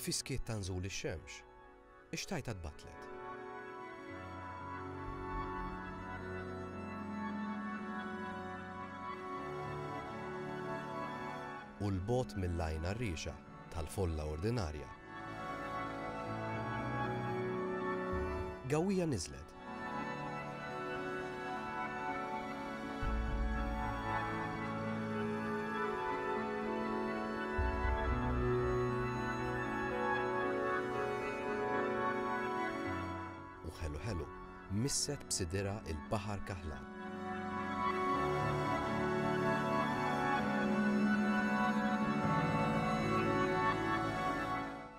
Fis-skiet ta' nżul ix-xemx, Ix-xtajta tbattlet. U 'l bogħod mill-għajn għarriexa tal-folla ordinarja, gawwija niżlet U ħelu ħelu, misset b'sidirha l-baħar kaħlan.